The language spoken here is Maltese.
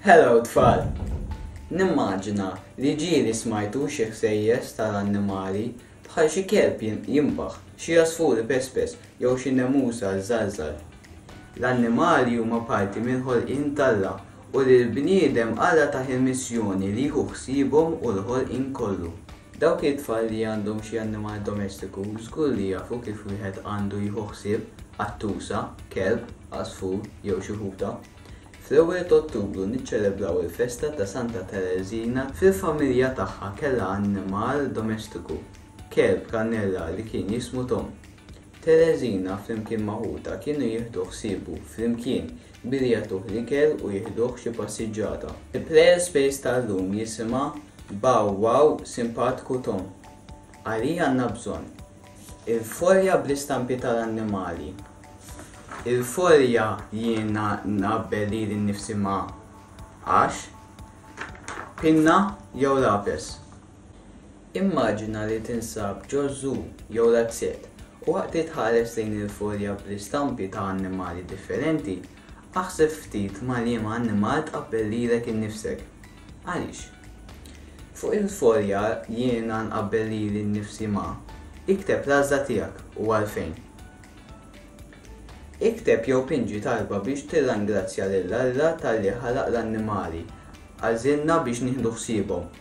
Hello tfal! Nimmaġina li ġieli smajtu xi ħsejjes tal-annimali bħal xi kelb jinbaħ, xi għasfur ipespes jew xi nemusa żżalżal. L-annimali huma parti mill-ħolqien t'Alla u lill-bniedem Alla tah il-missjoni li jieħu ħsiebhom u l-ħolqien kollu. Dawk it-tfal li għandhom xi annimal domestiku żgur li jafu kif wieħed għandu jieħu ħsieb qattusa, kelb, għasfur jew xi ħuta. Fl-ewwel t'Ottubru niċċelebraw il-festa ta' Santa Tereżina fil-familja tagħha kellha annimal domestiku, kelb kannella li kien jismu Tom. Tereżina flimkien ma' ħutha kienu jieħdu ħsiebu flimkien Billi jagħtuh l-ikel u jieħduh xi passiġġata. Il-Players Space ta' llum jisimha Bow Wow Simpatiku Tom, Għalih għandna bżonn, Il-folja bl-istampi tal-annimali. Il-folja jiena nqabbel lili nnifsi ma' għax, pinna jew lapes. Immaġina li tinsab ġo zoo jew l-azzett u waqt li tħares lejn il-folja bl-istampi ta' annimali differenti, aħseb ftit ma' liema annimal tqabbel lilek innifsek. Għaliex? Fuq il-folja Jiena nqabbel lili nnifsi ma', ikteb l-għażla tiegħek u għalfejn. Ikteb jew pinġi talba biex tirrangrazzja lil Alla talli ħalaq l-annimali, għażilna biex nieħdu ħsiebhom.